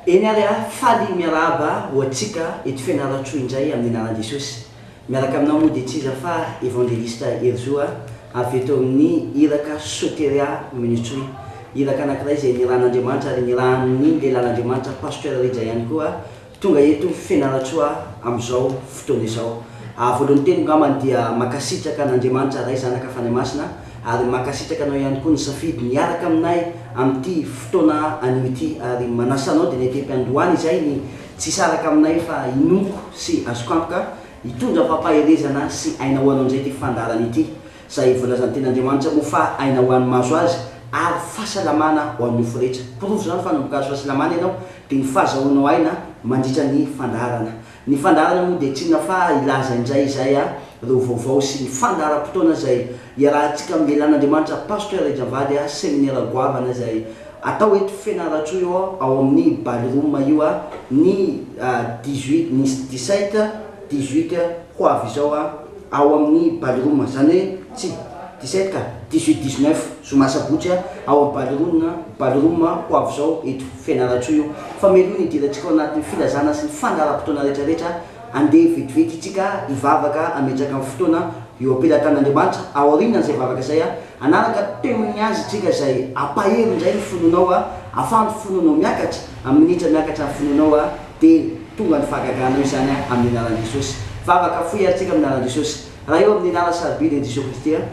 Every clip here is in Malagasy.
Eny ary aho faly miarahaba ho antsika eto Fianarantsoa indray amin'ny anaran'i Jesosy. Miaraka aminao moa dia tsy iza fa Evangelista Herizo aho avy eto amin'ny Iraka Soteria Minutsoy. Iraka anankiray izay nirahan'Andriamanitra ary nirahan'ny Lehilahin'Andriamanitra Pasteur Rija ihany koa Tonga eto Fianarantsoa amin'izao fotoana izao. Ary voalohany teny ngambany dia mankasitraka an'Andriamanitra Ray, Zanaka, Fanahy Masina, ary mankasitraka anao ihany koa nisafidy ny hiaraka aminay amin'ity fotoana anio ity, ary manasa anao dinekem-piandohana izay ny tsy hisaraka aminay fa hinoako sy azoko antoka hitondra fampaherezana sy aina ho anao indray ity fandaharana ity. Izay voalazan'ny Tenin'Andriamanitra moa fa aina ho an'ny mahazo azy ary fahasalamana ho an'ny nofo rehetra. Porofo izany fa nanomboka azo fahasalamana ianao dia ny fahazahoanao aina mandritra ny fandaharana. Ny fandaharana moa dia tsy inona fa hilaza indray izay a ireo vaovao sy ny fandaharam-potoana izay iarahantsika amin'ny lehilahin'Andriamanitra Pasteur Rija Vady a seminera goavana izay atao eto Fianarantsoa io ao amin'ny Ballroom io a ny dix-huit ny dix-sept, dix-huit ho avy izao a. ao amin'ny Ballroom, izany hoe tsy dix sept ka dix huit, dix neuf zoma sabotsy ao amin'ny Ballroom na Ballroom Hoavizao eto Fianarantsoa io. Fa meloha ny hidirantsika ao anatin'ny filazana sy ny fandaharam-potoana rehetrarehetra, andeha vetivety itsika hivavaka hametraka ny fotoana eo am-pelatan'Andriamanitra, aorianan'izay vavaka izay hanaraka temin'ny Azy itsika izay hampahery indray ny finoanao, hahafahan'ny finoanao miakatra, minitra miakatra ny finoanao. Dia tonga ny fahagagana eo izany an! Amin'ny anaran'i Jesosy. Vavaka, foy ary tsika amin'ny anaran'i Jesosy. Raha eo amin'ny lalana sarobidy ny Jesoa Kristy an!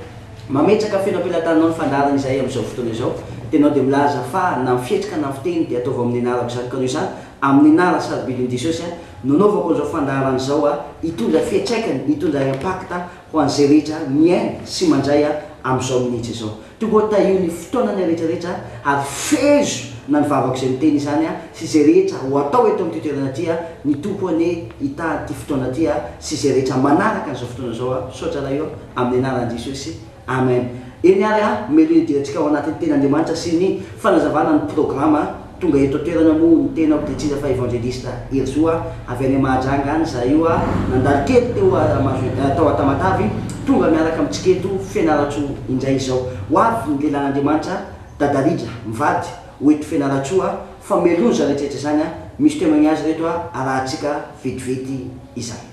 Mametraka feno am-pelataninao ny fandaharana izahay amin'izao fotoana izao. Dia ianao dia milaza fa na ny fihetsika na ny fiteny dia ataovy amin'ny anarako izany. Ka noho izany, amin'ny anarany sarobidin'i Jesosy an! Nanaovako an'izao fandaharana izao an! Hitondra fiantraikany, hitondra impact ho an'izay rehetra mihaino sy mandray an! Amin'izao minitra izao. Tonga ho tahio ny fotoana ny rehetra rehetra ary fehezo na ny vavako izay miteny izany sy izay rehetra ho atao eto amin'ity toerana ity ny Tompo anie hitady ity fotoana ity sy izay rehetra manaraka an'izao fotoana izao misaotra Ray ô amin'ny anaran'i Jesosy Amen eny ary a melohin'ny dietrika ao anatin'ny tenin'Andriamanitra sy ny fanazavana ny programa Tonga eto an-toerana moa ny tenako dia tsy iza fa Evangelista Herizo a! avy any Mahajanga any izahay io a! nandalo kely teo a Mahazo tao a Tamatavy, tonga miaraka amintsika eto Fianarantsoa indray izao. Ho avy ny lelan'Andriamanitra a! Dada Rija, mivady, ho eto Fianarantsoa a! fa meloha izany rehetra rehetra izany a! misy teo mañazy ireto a! arahantsika vetivety izany.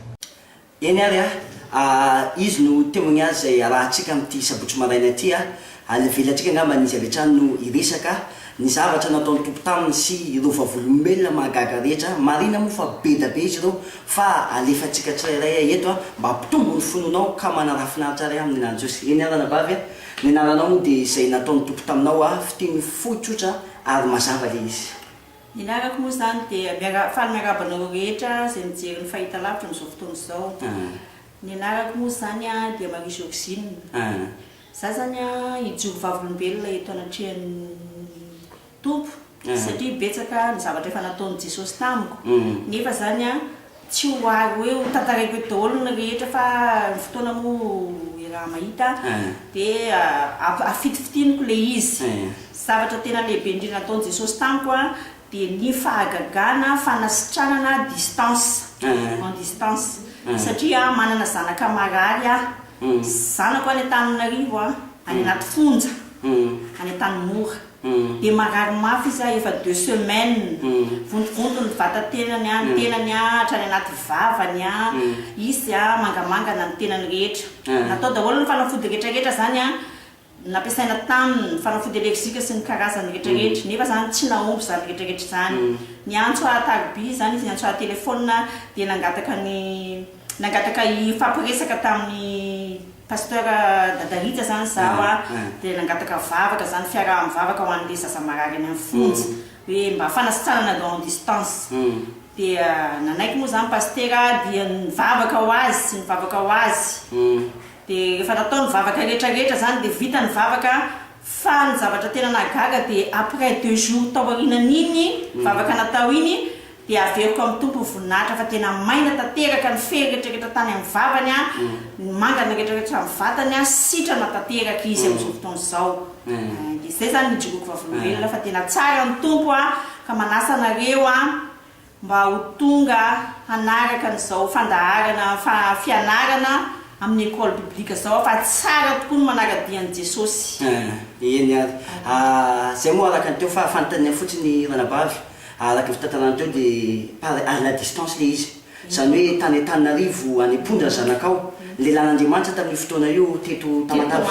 Eny ary ah, ah, izy no temoigny azy izay arahantsika amin'ity sabotsy maraina ity ah, Alevelantsika angambany izy avy hatrany no hiresaka ah, ny zavatra nataon'ny Tompo taminy sy ireo vavolombelona mahagaga rehetra ah, marina moa fa beda be izy ireo, fa alefantsika tsirairay ah eto ah, mba hampitombo ny finoanao ka manaraha finaritra ary ah amin'ny anarany Jesosy. Eny ary anabavy ah, ny anaranao moa dia izay nataon'ny Tompo taminao ah, fiteny fohy tsotra ary mazava le izy. Ny lalako moa izany dia miara faly miarahaba anareo rehetra izay mijery ny fahitalavitra amin'izao fotoana izao. Ny anarako moa izany dia Marie Georgine. Izaho izany hijoro vavolombelona eto anatrehan'ny Tompo satria betsaka ny zavatra efa nataon'i Jesosy tamiko nefa izany Tsy ho ahy hoe ho tantaraiko eto daholo ny rehetra fa ny fotoana moa iaraha mahita dia afitifitiniko ilay izy. Zavatra tena lehibe indrindra nataon'i Jesosy tamiko dia ny fahagagana, fanasitranana distance, en distance, satria manana zanaka marary aho, zanako any Antananarivo, any anaty fonja, any Antanimora. Dia marary mafy izy ah efa deux semaines, vontovonto ny vatatenany ah, ny tenany ah hatrany anaty vavany ah, izy dia mangamanga na ny tenany rehetra. Natao daholo ny fanafody retraretra zany ah, nampiasaina taminy, fanafody allergique sy ny karazany retraretra, nefa zany tsy nahomby zany retraretra zany. Niantso ah tariby zany izy, niantso ah telephone ah, dia nangataka ny nangataka hifampiresaka taminy, Pasteur Dada Rija zany zaho a, dia nangataka vavaka zany, fiaraha-mivavaka ho an'ilay zaza marary any amin'ny fonja, hoe mba fanasitranana long distance, dia nanaiky moa zany Pastera aho dia nivavaka ho azy sy nivavaka ho azy, dia rehefa natao ny vavaka rehetra rehetra zany dia vita ny vavaka, fa ny zavatra tena nahagaga dia après deux jours taorianan'iny vavaka natao iny Dia averiko amin'ny Tompo voninahitra fa tena maina tanteraka ny fery rehetrarehetra tany amin'ny vavany an, ny mangana rehetrarehetra amin'ny vatany an, sitrana tanteraka izy amin'izao fotoana izao. Amen. Dia izay izany ny ijoroako vavolombelona fa tena tsara ny Tompo an, ka manasa anareo an, mba ho tonga hanaraka an'izao fandaharana fa fianarana amin'ny Ecole Biblique izao aho fa tsara tokoa ny manara-dia an'i Jesosy. Amen. Eny ary. Izay moa araka ny teo fahafantanina fotsiny ranabavy. Araka ny fitantarana teo dia par à la distance ilay izy. Izany hoe tany Antananarivo any am-ponja ny zanakao. Lelan'Andriamanitra tamin'io fotoana io teto Tamatave.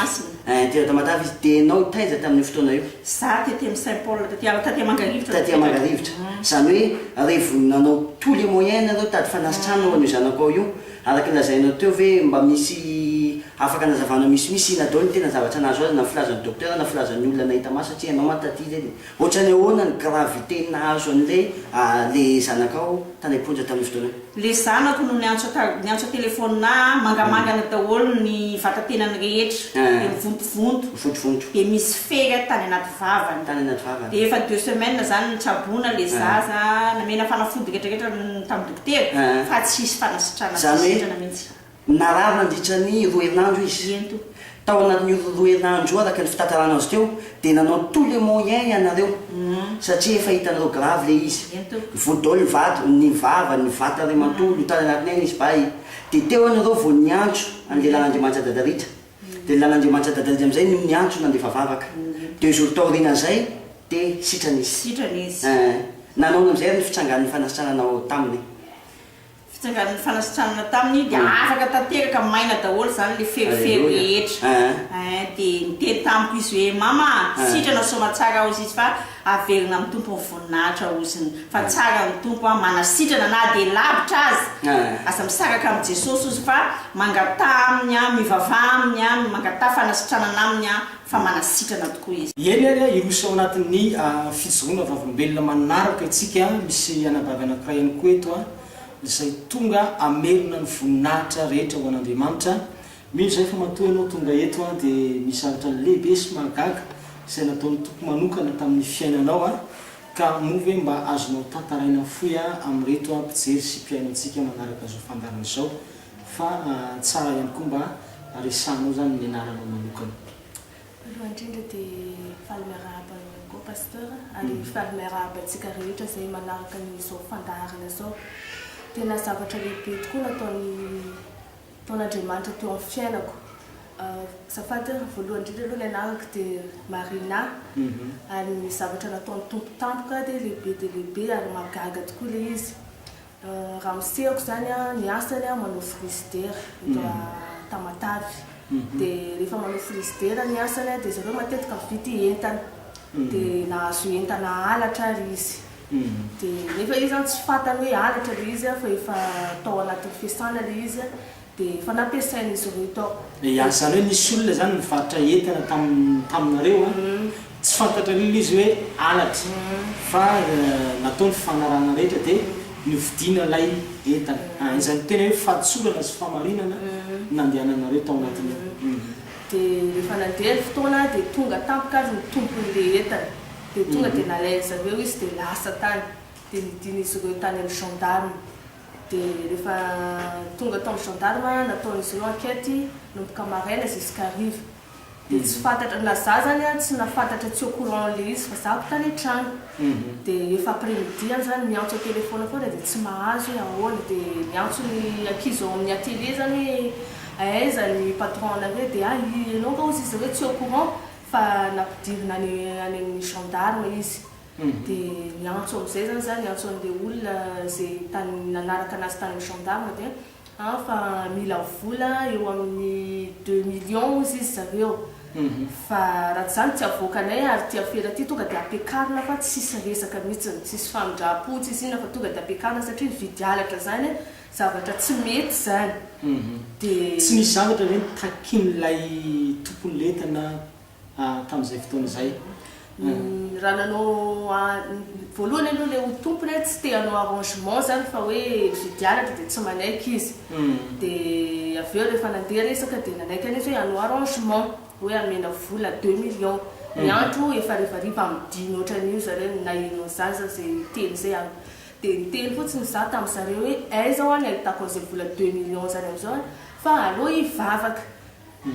Ein, teto Tamatave izy. Dia ianao taiza tamin'io fotoana io? Izaho tety amin'ny Saint Paul, taty aho, taty Mangarivotra no Taty Mangarivotra. Izany hoe revon'ny nanao tous les moyens nareo hitady fanasitranana ho an'io zanakao io. Araka ny lazainao teo ve mba misy afaka anazavana misimisy ina daholo ny tena zavatra nahazo azy na filazan'ny docteur na filazan'ny olona nahita maso satria ianao mantsy taty izy e dia Ohatrany ahoana ny gravité nahazo an'ilay le zanakao tany am-ponja tamin'io fotoana io? Le zanako no niantso niantso an-telephone ahy, mangamangana daholo ny vatatenany rehetra, dia mivontovonto, Mivontovonto. dia misy fery tany anaty vavany, Tany anaty vavany. dia efa deux semaines zany no tsaboina le zaza, namena fanafody retraretra tamin'ny dokotera, fa tsy hisy fanasitrana, tsy Zany hoe, sitrana mihitsy. Narary nandritra ny roa herinandro izy. Tao anatin'io roa herinandro io, araka ny fitantarana azo teo, dia nanao tous les moyens ianareo satria efa hitanareo grave ilay izy. Vao dol ny vato, ny vava, ny vata iray manontolo tany anatiny any izy bay, dia teo ianareo vao niantso an'i lehilahy Andriamanitra Dadaritra, dia lehilahy Andriamanitra Dadaritra amin'izay no niantso nandefa vavaka. Deux jours taorianan'izay dia sitrana izy. Sitrana izy. Nanaona amin'izay ary ny fitsangan'ny fanasitranana ao taminy. fitsangan'ny fanasitranana taminy dia afaka tanteraka maina daholo izany ilay ferifery rehetra eh, dia niteny tamiko izy hoe mama ah, eh. sitrana soamatsara hozy izy fa averina amin'ny tompo ny voninahitra hoziny fa tsara ny tompo a, manasitrana na dia lavitra aza eh. aza misaraka amin'i jesosy hozy fa mangataha aminy a, mivavaha aminy a, mangataha fanasitranana aminy a fa manasitrana tokoa izy. Eny ary, hiroso ao anatin'ny fijoroana vavolombelona manaraka isika. Misy anabavy anankiray ihany koa eto izay tonga hamerina ny voninahitra rehetra ho an'Andriamanitra. Mino izahay fa matoa ianao tonga eto dia misy zavatra lehibe sy mahagaga izay nataon'ny Tompo manokana tamin'ny fiainanao, ka moa ve mba azonao tantaraina fohy amin'ireto mpijery sy mpihaino antsika manaraka izao fandaharana izao Fa tsara ihany koa mba resahanao zany ny anaranao manokana. Voalohany indrindra dia faly miarahaba anao ihany koa Pasteur ary faly miarahaba antsika rehetra izay manaraka izao fandaharana izao. Tena zavatra lehibe tokoa nataony nataon'Andriamanitra teo amin'ny fiainako. Azafady an, voalohany indrindra aloha ny anarako dia Marina ary ny zavatra nataon'ny Tompo tampoka dia lehibe dia lehibe ary mahagaga tokoa ilay izy. Raha misehoko izany an, ny asany an manao frizidera eto Tamatave, dia rehefa manao frizidera ny asany an, dia zareo matetika mividy entana, dia nahazo entana halatra ary izy, dia nefa izy an tsy fantany hoe halatra ilay izy an fa efa tao anatin'ny fesana ilay izy an, Dia efa nampiasain'izy ireo tao. Dia an zareo nisy olona zany nivarotra entana tamin taminareo an, tsy fantatrareo aloha izy hoe halatra fa natao ny fanarahana rehetra dia novidiana ilay entana an, izay no tena hoe fahadisorana sy fahamarinana nandehananareo tao anatin'io. Dia rehefa nandeha ny fotoana dia tonga tampoka ary ny tompon'ilay entana, dia tonga dia nalain'izareo izy dia lasa tany, dia nidin'izy ireo tany amin'ny gendarmes. Dia rehefa tonga tao amin'ny gendarme, nataon'izy ireo enquête nomboka maraina jusqu'à hariva. Dia tsy fantatra na za zany an tsy nafantatra tsy au courant an'ilay izy fa zako tany an-trano. Dia efa après midi ihany zany miantso an-téléphone foana dia tsy mahazo hoe ahoana. Dia miantso ny ankizy ao amin'ny atelier zany hoe aiza ny patron anareo dia ah ianao nga hozy izy hoe tsy au courant fa nampidirina any any amin'ny gendarme izy. Dia niantso amin'izay izany za, niantso an'ilay olona izay tany nanaraka anazy tany amin'ny gendarme dia an fa mila vola eo amin'ny deux millions hozy izy zareo fa raha tsy izany tsy avoakanay ary ity afera ity tonga dia ampiakarina fa tsisy resaka mihitsiny, tsisy famindram-po, tsisy inona fa tonga dia ampiakarina satria nividy halatra izany zavatra tsy mety izany dia. Tsy misy zavatra ve no takin'ilay tompon'entana? tamin'izay fotoana izay. Raha nanao voalohany aloha ilay ho tompony hoe tsy te hanao arrangement izany fa hoe fidianatra dia tsy manaiky izy. Dia avy eo rehefa nandeha resaka dia nanaiky an'izy hoe hanao arrangement hoe hamena vola deux millions. Ny andro efa harivariva midina ohatran'io zareo no nahianao zaza izay niteny izay an! Dia niteny fotsiny izaho tamin'ny zareo hoe aiza ho'a ny ahitako an'izay vola deux millions izany amin'izao an! Fa aleo hivavaka.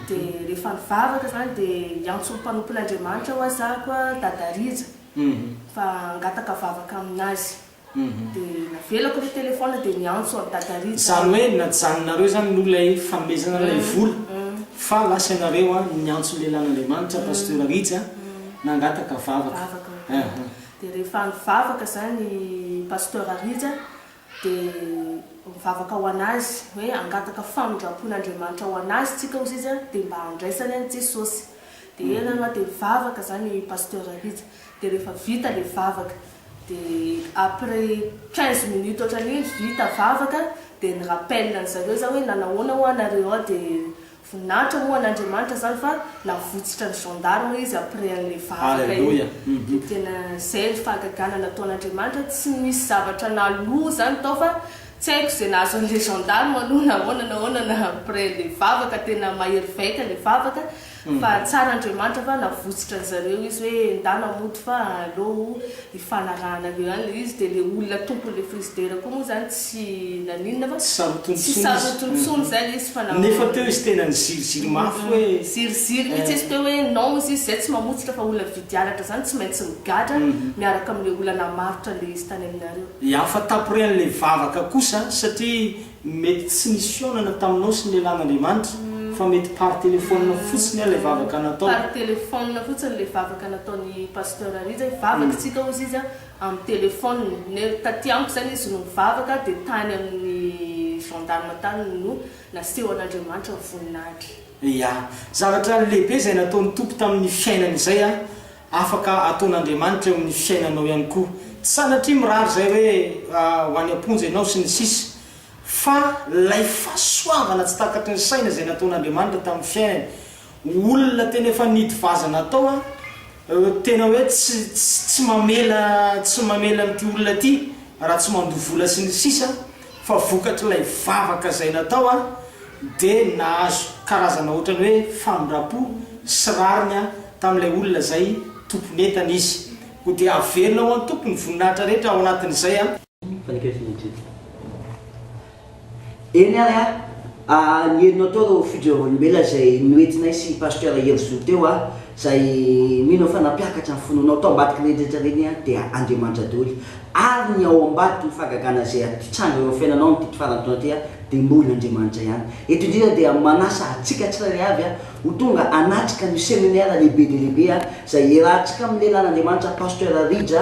Dia rehefa nivavaka izany dia hiantso ny mpanompon'Andriamanitra hoa zako a Dada Rija fa hangataka vavaka amin'azy. Dia navelako ny telefaonina dia niantso an'i Dada Rija aho. Izany hoe najanonareo izany no ilay fanomezana ilay vola fa lasa ianareo a niantso ny lehilahin'Andriamanitra Pasteur Rija nangataka vavaka. Vavaka. Dia rehefa nivavaka izany i Pasteur Rija dia mivavaka ho an'azy hoe hangataka famindrampon'Andriamanitra ho an'azy tsika hozy izy dia mba handraisany an'i Jesosy dia eo ianareo a dia mivavaka zany Pasteur Rija dia rehefa vita le vavaka dia après quinze minutes otran'iny vita vavaka dia ni rappelle an'zareo za hoe nanahoana ho'a nareo ao dia Voninahitra moa an'Andriamanitra zany fa navotsitra ny gendarme izy après an'ilay vavaka iny de tena zay ny fahagagana nataon'Andriamanitra tsy nisy zavatra naloa zany tao fa tsy haiko zay nahazo an'ilay gendarme aloha nahoana nahoana na après le vavaka tena mahery vaika le vavaka fa tsara Andriamanitra fa navotsitra an'zareo izy hoe endana mody fa aleo Ifanarahana eo ihany ilay izy dia ilay olona tompon'ilay frizidera koa moa izany tsy naninona fa tsy sarotiny intsony izay ilay izy fa namono. Nefa teo izy tena niziriziry mafy hoe. Niziriziry mihitsy izy teo hoe non izy izay tsy mamotsitra fa olona mividy halatra izany tsy maintsy migadra miaraka amin'ilay olona namarotra ilay izy tany aminareo. Hafa taporehan'ilay vavaka kosa satria. Mety tsy nisy fihaonana taminao sy ny lehilahin' Andriamanitra, fa mety par téléphone fotsiny aho ilay vavaka natao. Par téléphone fotsiny ilay vavaka nataon'i Pasteur Rija e. Vavakitsika hozy izy an, amin'ny téléphone. Ne, taty amiko izany izy no nivavaka dia tany amin'ny gendarme tany no nasehon' Andriamanitra ny voninahitra. Ia. Zavatra lehibe izay nataon'ny Tompo tamin'ny fiainany izay an, Afaka ataon'Andriamanitra eo amin'ny fiainanao ihany koa. Tsy sanatria mirary izay hoe ho any am-ponja ianao sy ny sisa Fa ilay fahasoavana tsy takatry ny saina izay nataon'Andriamanitra tamin'ny fiainany. Olona tena efa nidy vaza natao a, tena hoe tsy tsy mamela tsy mamela an'ity olona ity raha tsy mandoa vola sy ny sisa. Fa vokatr'ilay vavaka izay natao aho dia nahazo karazana ohatran'ny hoe famindram-po sy rariny aho tamin'ilay olona izay tompon'entana izy. Koa dia averina ho an'ny Tompo ny voninahitra rehetra ao anatin'izay aho. Eny ary an! Ny henonao teo ireo fidiovam-olombelona izay noentinay sy Pasteur Hery Zo teo an! Izay mino fa nampiakatra ny finoanao tao ambadik'ireny rehetra ireny Aho dia Andriamanitra daholo. Ary ny ao ambadiky ny fahagagana izay hitranga eo amin'ny fiainanao amin'ity faran'ny taona ity Aho dia mbola Andriamanitra ihany. Eto indrindra dia manasa antsika tsirairay avy Aho ho tonga hanatrika an'io seminaire lehibe dia lehibe Aho izay hiarahantsika amin'ny Lehilah'Andriamanitra Pasteur Rija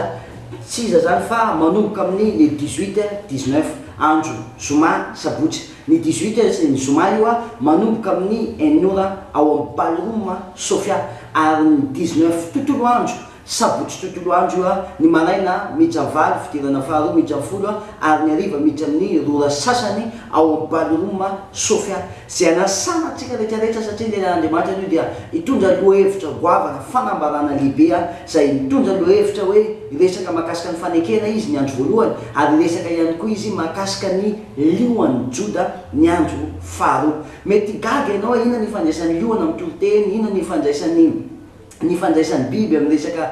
tsy iza izany fa manomboka amin'ny le 18, 19 andro zoma, sabotsy. Ny dix huit heures ny zoma io a, manomboka amin'ny enina ora ao amin'ny ballroom Sofia, ary ny dix neuf tontolo andro, sabotsy tontolo andro io a, ny maraina miditra valo, fidirana faharoa miditra folo a, ary ny hariva miditra amin'ny roa ora sasany ao amin'ny ballroom Sofia. Izay anasana antsika rehetra rehetra satria ny Tenin'Andriamanitra anio dia hitondra lohahevitra goavana, fanambarana lehibe a, izay mitondra lohahevitra hoe hiresaka mahakasika ny fanekena Izy ny andro voalohany, ary hiresaka ihany koa Izy mahakasika ny. Lio ho an'i Joda ny andro faharoa. Mety higaga ianao, inona ny ifandraisan'ny lio amin'ny toriteny? Inona ny ifandraisan'ny ny ifandraisan'ny biby amin'ny resaka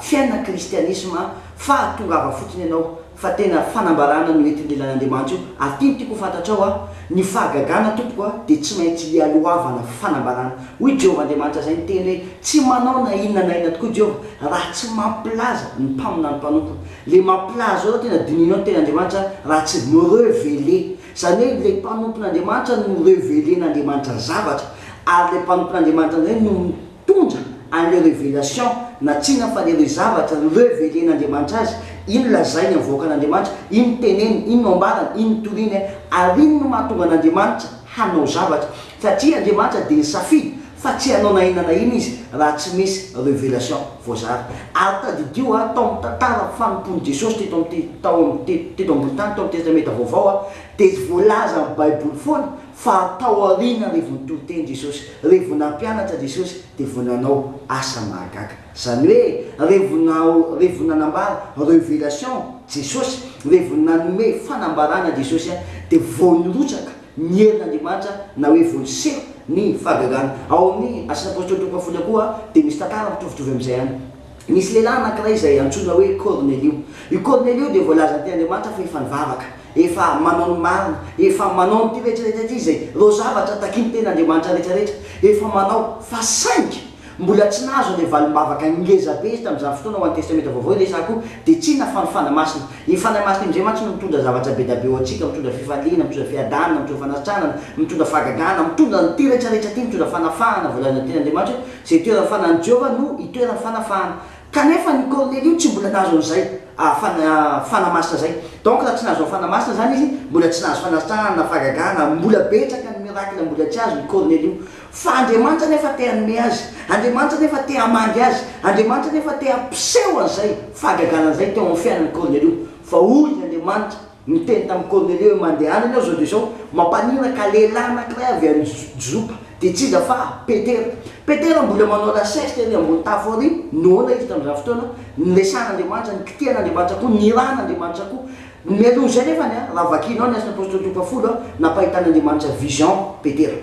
fiainana kristianisma? Fa tongava fotsiny ianao fa tena fanambarana no entin'ny lelan'Andriamanitra io. Ary ity no tiako ho fantatrao an, ny fahagagana tompoko an dia tsy maintsy ialohavana fanambarana. Hoy Jehovah Andriamanitra izay niteny hoe, Tsy manao na inona na inona tokoa Jehovah raha tsy mampilaza ny mpaminany mpanompony. Le maplaha zao tena dinihinao ny tenin'Andriamanitra raha tsy mi-reveler. Izany hoe ilay mpanompon'Andriamanitra no mi-reveler-n'Andriamanitra ny zavatra ary ilay mpanompon'Andriamanitra indray no mitondra an'ilay revelation na tsinona fa ilay zavatra reveler-n'Andriamanitra azy, iny no lazainy amin'ny vahoakan'Andriamanitra, iny no teneniny, iny no ambarany, iny no toriany ary iny no mahatonga an'Andriamanitra hanao zavatra. Satria Andriamanitra dia nisafidy fa tsy hanao na inona na inona Izy raha tsy misy révélation voazara. Ary tadidio ha, tao amin'ny tantaran'ny fanompoan'i Jesosy teto amin'ity, tao amin'ny, teto, teto ambony tany, tao amin'ny Testamenta Vaovao ha, dia voalaza amin'ny Baiboly foana fa tao aoriana re vao nitoriteny Jesosy, re vao nampianatra Jesosy dia vao nanao asa mahagaga. Izany hoe, re vao na, re vao nanambara, révélation, Jesosy, re vao nanome fanambarana Jesosy ha, dia vao nirotsaka ny herin' Andriamanitra na hoe voaseho ny fahagagana. Ao amin' ny Asan' ny Apôstôly toko fahafolon'ny koa dia misy tantara mitovitovy amin' izay ihany. Nisy lehilahy anankiray izay antsoina hoe Kôrnelio. I Kôrnelio dia voalazan' An' Andriamanitra fa efa nivavaka, efa manao ny marina, efa manao an'ity rehetra rehetra ity, izay ireo zavatra takin' ny Tenin' Andriamanitra rehetra rehetra efa manao, fa saingy, Mbola tsy nahazo ilay valim-bavaka ngeza be izy tamin'izany fotoana ho an'ny Testamenta Vaovao ilay sakoa, dia tsy nafan' ny Fanahy Masina. Iny Fanahy Masina iny indray mantsy no mitondra zavatra be dia be ho antsika, mitondra fifaliana, mitondra fiadanana, mitondra fanasitranana, mitondra fahagagana, mitondra an'ity rehetra rehetra ity, mitondra fanafahana, voalazan'ny Teny Andriamanitra hoe, izay itoeran'ny Fanan'i Jehovah no itoeran'ny fanafahana. Kanefa ny Kornelio tsy mbola nahazo an'izay Fanahy Masina izay. Donc raha tsy nahazo ny Fanahy Masina izany izy, mbola tsy nahazo fanasitranana na fahagagana, mbola betsaka ny miracle mbola tsy azon'i Kornelio. Fa Andriamanitra anefa te hanome azy, Andriamanitra anefa te hamangy azy, Andriamanitra anefa te hampiseho an'izay fahagagana izay teo amin'ny fiainan'i Kornelio. Fa hoy Andriamanitra, Miteny tamin'i Kornelio hoe, Mandehana ianao izao dia izao, mampanina ka lehilahy anankiray avy any Jopa, dia tsy iza fa Petera. Petera mbola manao lasiesitra ery ambony tafo ery, noana izy tamin'izany fotoana niresahan'Andriamanitra, nikitihan'Andriamanitra koa, nirahan'Andriamanitra koa. Mialoha izay nefany, raha vakianao ny Asan'ny Apostoly toko fahafolo, nampahitan'Andriamanitra vision Petera.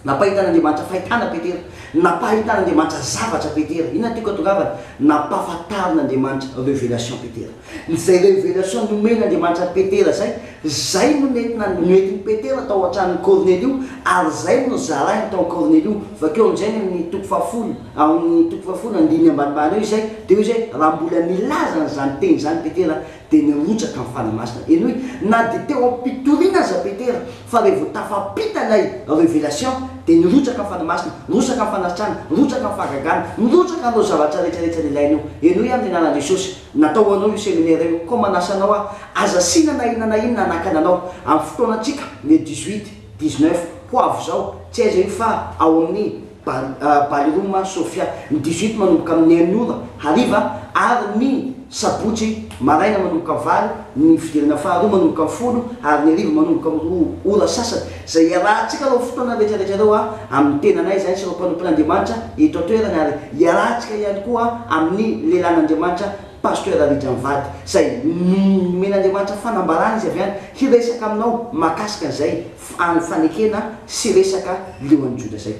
Nampahitan'Andriamanitra fahitana Petera. Nampahitan'Andriamanitra zavatra Petera. Inona no tiako hatongavana? Nampahafantarin'Andriamanitra révélation Petera. Izay révélation nomen'Andriamanitra an'i Petera izay, izay no nentina, nentin'i Petera tao an-tranon'i Kornelio, ary izay no nozarainy tao amin'i Kornelio. Vakio amin'izay ny amin'ny toko fahafolo, ao amin'ny toko fahafolo, andininy ambanimbany eo izay, dia hoy izy hoe, Raha mbola nilaza an'izany teny izany Petera, Dia nirotsaka ny fanahy masina. Henoy, na dia teo am-pitoriana aza Petera, fa revo tafampita ilay revelation, dia nirotsaka ny fanahy masina, nirotsaka ny fanasitranana, nirotsaka ny fahagagana, nirotsaka ireo zavatra rehetra rehetra nilainao. Henoy amin'ny anaran'i Jesosy, natao ho anao io seminera io. Koa manasa anao aho, aza asiana na inona na inona hanakana anao, amin'ny fotoanantsika, le dix-huit, dix-neuf, ho avy izao, tsy aiza io fa ao amin'ny. Bal, Ballroom an Sofia, ny dix-huit manomboka amin'ny enina ora hariva ary ny sabotsy maraina manomboka amin'ny valo, ny fidirana faharoa manomboka amin'ny folo ary ny hariva manomboka amin'ny roa ora sasany. Izay hiarahantsika ireo fotoana rehetrarehetra ireo an, amin'ny tenanay izahay sy ireo mpanompon'Andriamanitra eto an-toerana ary hiarahantsika ihany koa amin'ny lehilahin'Andriamanitra Pasteur Rija mivady izay nomen'Andriamanitra fanambarana izy avy any hiresaka aminao makasika an'izay any fanekena sy resaka leo any Joda zay.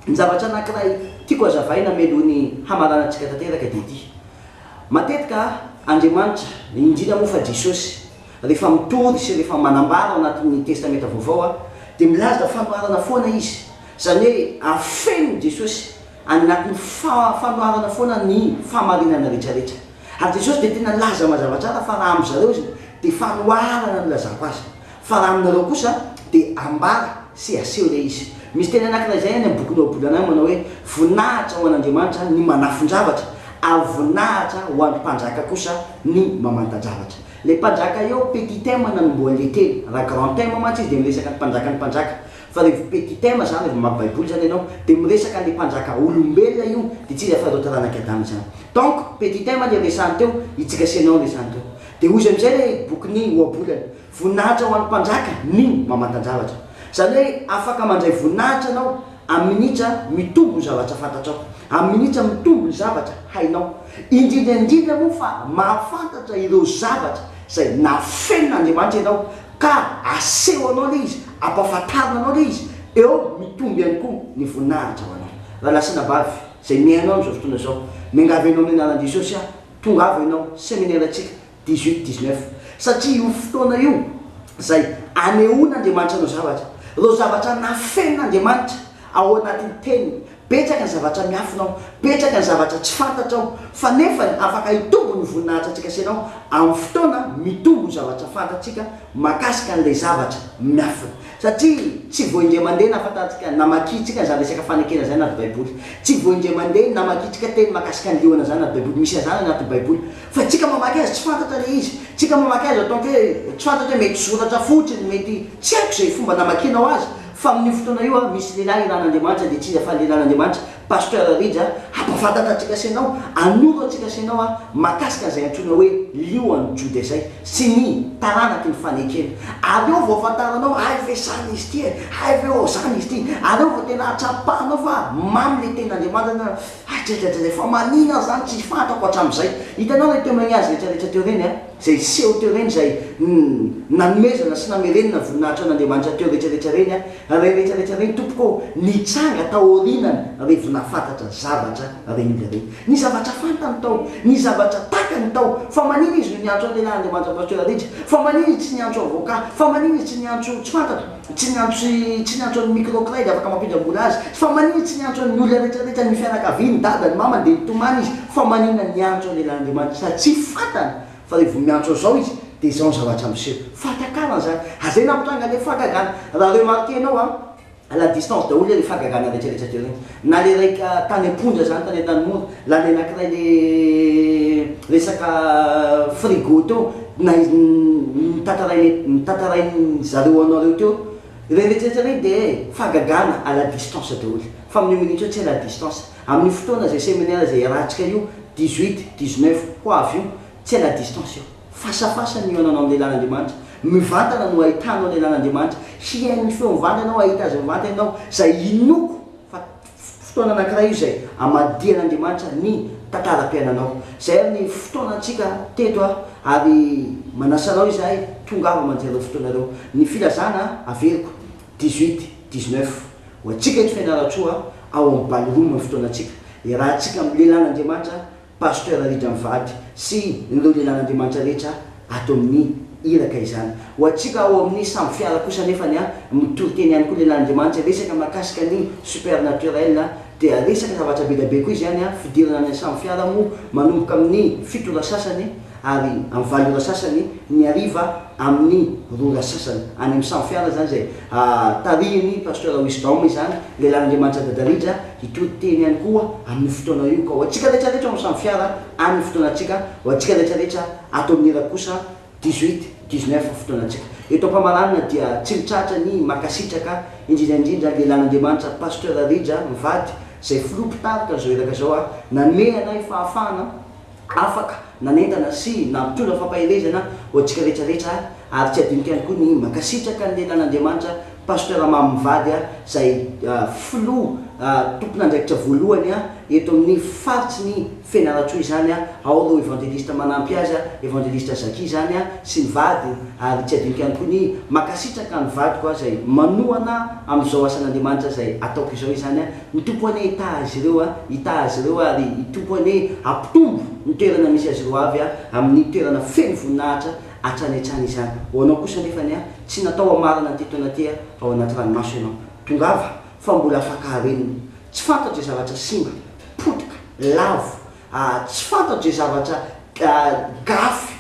Ny zavatra anakiray tiako azavaina mialoha ny hamaranantsika tanteraka dia ity, matetika Andriamanitra, indrindra moa fa Jesosy, rehefa mitory sy rehefa manambara ao anatin'ny testamenta vaovao dia milaza fanoharana foana izy, izany hoe afeniny Jesosy any anatin'ny fanoharana foana ny fahamarinana retraretra. Ary Jesosy dia tena nilaza mazava tsara fa raha amzareo izy dia fanoharana no ilazako azy. Fa raha aminareo kosa dia ambara sy aseho ilay izy. Misy teny anankiray izay any amin'ny bokin'i Ohabolana any manao hoe, Voninahitra ho an'Andriamanitra ny manafon-javatra, ary voninahitra ho an'ny mpanjaka kosa ny mamantan-javatra. Ilay mpanjaka eo, petit thème nanombohany ilay teny. Raha grand thème mantsy izy dia miresaka ny mpanjakan'ny mpanjaka. Fa revo petit thème izany, revo mamaky baiboly izany ianao, dia miresaka an'ilay mpanjaka olombelona io, dia tsy iza afa-tsy ireo taranak'i Adama izany. Donc, petit thème ilay resahiny teo, i Tsika sy Ianao no resahiny teo. Dia hoy izy amin'izay ilay bokin'i Ohabolana. Voninahitra ho an'ny Mpanjaka ny mamantan-javatra. Izany hoe afaka mandray voninahitra ianao amin'ny minitra mitombo ny zavatra fantatrao, amin'ny minitra mitombo ny zavatra hainao, indrindra indrindra moa fa mahafantatra ireo zavatra izay nafenin'Andriamanitra ianao ka asehonao ilay izy, ampahafantarina anao ilay izy, eo mitombo ihany koa ny voninahitra ho anao. Rahalahy sy anabavy izay mihaino ahy amin'izao fotoana izao, miangavy anao amin'ny anaran'i Jesosy aho, tongava ianao, seminera antsika, dix-huit dix-neuf satria io fotoana io izay anehoan'Andriamanitra ireo zavatra, ireo zavatra nafenin'Andriamanitra ao anatin'ny teniny, betsaka ny zavatra miafina ao, betsaka ny zavatra tsy fantatra ao, fa nefany afaka hitombo ny voninahitra antsika sy ianao amin'ny fotoana mitombo ny zavatra fantatsika makasika an'ilay zavatra miafina, satria tsy vao indray mandeha nahafantarantsika, namakiantsika an'izany resaka fanekena izany anaty baiboly, tsy vao indray mandeha namakiantsika teny makasika ny liona izany anaty baiboly, misy an'izany anaty baiboly, Fa tsika mamaky azy tsy fantatra le izy, tsika mamaky azy ataoko hoe tsy fantatra hoe mety soratra fotsiny, mety tsy haiko izay fomba namakianao azy fa amin'io fotoana io a misy lehilahy ilan'Andriamanitra dia tsy iza fa lelan'Andriamanitra Pasteur Rija hampafantatra antsika sy anao, hanoro antsika sy anao a mahakasika an'izay antsoina hoe lionan'i Joda izay sy ny taranaky ny fanekena. Ary eo vao afantaranao hay ve zany izy ity e, hay ve ô zany izy ity, ary eo vao tena atsapahanao fa mamy le tenin'Andriamanitra. Ajajajaja fa manina aho zany tsy fantako hatramizay. Hitanao le teo magnazy retraretra teo reny a, zay niseho teo reny zay nanomezana sy namerenana voninahitra an'Andriamanitra teo retraretra reny a, reny retraretra reny tompoko ô, nitranga taorinany revo nafantatra zavatra reny olona reny. Ny zavatra fantany tao, ny zavatra takany tao, fa manina izy no niantso an'lehilahy Andriamanitra Pasteur Rija, fa manina izy tsy niantso avocat, fa manina izy tsy niantso tsy fantatra, Tsy ny antso sy tsy ny antso an'i Micro Cray dia afaka mampindram-bola azy. Fa maninona tsy ny antso an'ny olona rehetra rehetra, ny fianakaviany, ny dadany, ny mamany, dia nitomany izy? Fa maninona ny antso an'i Lelan'Andriamanitra? Sady tsy fantany fa rehefa vao miantso an'izao izy dia izao ny zavatra miseho. Fahatakarana izany. Ary izay nampitrangan'ilay fahagagana. Raha remarquer-nao an, à la distance daholo ilay fahagagana rehetra rehetra teo ireny. Na le ray tany ampondra zany tany antanimora la le anakiray le resaka frigo teo na izy nitatarainy nitatarainy zareo anareo teo reny retsiretra reny de fagagana à la distance daoly fa aminio minute io tsy à la distance aminio fotoana zay seminaire zay hiarahantsika io dix huit dix neuf ho avy io tsy à la distance io. Fasafasa ny hihaonanao amin'ny lehilahin'Andriamanitra. Mivantana no hahitanao ny lehilahin'Andriamanitra. Hihaino ny feony mivantana ianao, hahita Azy mivantana ianao. Izay inoako fa fotoana anankiray io izay hamadihan'Andriamanitra ny tantaram-piainanao. Izay ary ny fotoanantsika teto ary manasa anao izahay, tongava mandria ireo fotoana ireo. Ny filazana averiko, dix-huit, dix-neuf. Ho antsika eto Fianarantsoa, ao amin'ny ballroom ny fotoanantsika. Iarahantsika amin'ny lehilahin'Andriamanitra. Pasteur Rija mivady sy ireo lehilahin'Andriamanitra rehetra ato amin'ny Iraka izany. Ho antsika ao amin'ny sambo fiara kosa anefany an, mitoriteny ihany koa lehilahin'Andriamanitra, resaka mahakasika ny supernaturel dia resaka zavatra bedabe koa izany an, fidirana any an-sambo fiara moa manomboka amin'ny fito ora sasany, ary amin'ny valo ora sasany ny hariva amin'ny roa ora sasany any amin'ny sambo fiara izany izay tarihin'ny Pasteur Wisdom izany lehilahin'Andriamanitra Dada Rija hitory teny ihany koa amin'io fotoana io ka ho antsika rehetra rehetra ao amin'ny sambo fiara any ny fotoanantsika ho antsika rehetra rehetra ato amin'ny irako kosa dix huit dix neuf ny fotoanantsika eto Ampamaranana dia tsy mitratra ny mankasitraka indrindra indrindra lehilahin'Andriamanitra Pasteur Rija mivady izay filoha mpitarika an'izao iraka izao ary nanome anay fahafahana Afaka nanentana sy nampitondra fampaherezana ho antsika rehetra rehetra ary tsy adinoko ihany koa ny mankasitraka ny lehilahin'Andriamanitra Pasteur Mamy Mivady izay Filoha tompon'andraikitra voalohany eto amin'ny faritry ny Fianarantsoa izany ao ireo Evangeliste manampy azy Evangeliste Zacky izany sy ny vadiny ary tsy adinoko ihany koa ny mankasitraka ny vadiko izay manohana amin'izao asan'Andriamanitra izay ataoko izao izany Ny Tompo anie hitaha azy ireo a, hitaha azy ireo a, ary ny Tompo anie hampitombo ny toerana misy azy ireo avy a, amin'ny toerana feno voninahitra hatrany hatrany izany. Ho anao kosa anefa anie a, tsy natao hamarana an'ity taona ity a, ao anaty ranomaso ianao. Tongava, fa mbola afaka harenina. Tsy fantatro izay zavatra simba, potika, lavo, a, tsy fantatro izay zavatra, a, gafy,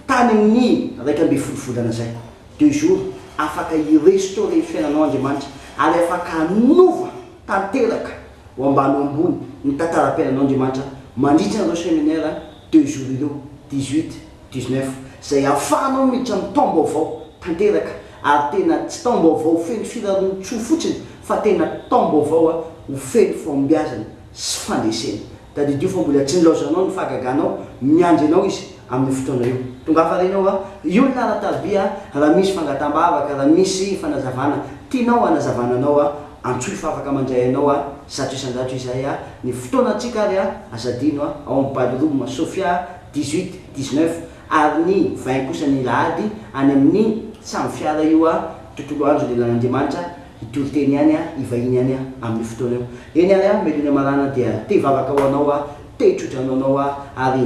tany amin'ny iraika ambin'ny folo volana izay. De jour afaka hi restaurer ny fiainanao Andriamanitra ary afaka hanova tanteraka ho ambany ho ambony ny tantaram-piainanao Andriamanitra mandritra an'ireo seminaire deux jours ireo dix huit, dix neuf izay ahafahanao miditra amin'ny taom-baovao tanteraka ary tena tsy taom-baovao feno firarontsoa fotsiny fa tena taom-baovao ho feno fahombiazana sy fandresena Tadidio fa mbola tsy nilaozanao ny fahagaganao, miandry anao izy amin'io fotoana io. Tongafa reny ao a! Io ny laharan'i Tarby a! Raha misy fangataham-bavaka, raha misy fanazavana tianao hanazavana anao a, antsoy fa afaka mandray anao a! Zato isan-jato izahay a! Ny fotoanantsika ary a! Aza adino a! Ao amin'ny ballroom Sofia a! Dix-huit, dix-neuf, ary ny vingt kosa ny lahady any amin'ny samy fiara io a! Tontolo andro lelan'Andriamanitra Hitory teny ihany aho, hivahiny ihany aho, amin'io fotoana io. Eny ary aho, Melonia Marana, dia te hivavaka ho anao aho, te hitrotra ho anao aho, ary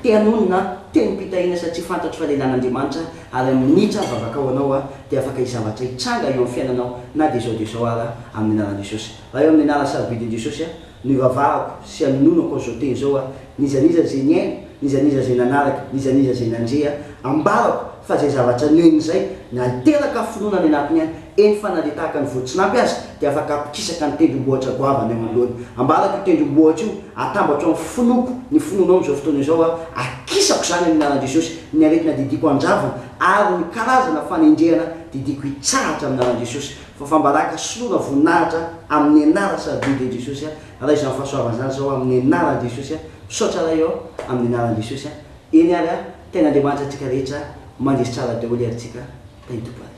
te hanonona aho, te nimpitahiana satria fantatro fa lehilahy an'Andriamanitra aho, ary amin'ny minitra vavaka ho anao aho, dia afaka hizavatra hitranga eo amin'ny fiainanao, na dia izao dia izao ara, amin'ny anaran'i Jesosy. Raha eo amin'ny anaran'ny sarobidy ny Jesosy aho. Nivavahako sy anononako an'izao teny izao aho, n'iza n'iza izay niaina, n'iza n'iza izay nanaraka, n'iza n'iza izay nandre aho, ambarako fa izay zavatra niheno izay na hiteraka finoana any anatiny ahy, eny fa na dia tahaka ny voatsinampy aza, dia afaka hampikisaka ny tendrombohitra goavana eo anoloany. Ambarako io tendrombohitra io, atambatro amin'ny finoako ny finoanao amin'izao fotoana izao aho, akisako izany amin'ny anaran'i Jesosy, ny aretina didiako handravina ary ny karazana fanenjehana didiako hitsahatra amin'ny anaran'i Jesosy. Fafambaraka, soloana voninahitra amin'ny anara sady Didy an'i Jesosy a! Raha izany fahasoavana izany izao amin'ny anaran'i Jesosy a! Misaotra Ray ô! Amin'ny anaran'i Jesosy a! Eny ary a! Tain'Andriamanitra antsika rehetra a! Mandresy tsara daholo ary tsika a! Tain'i Tompo ary.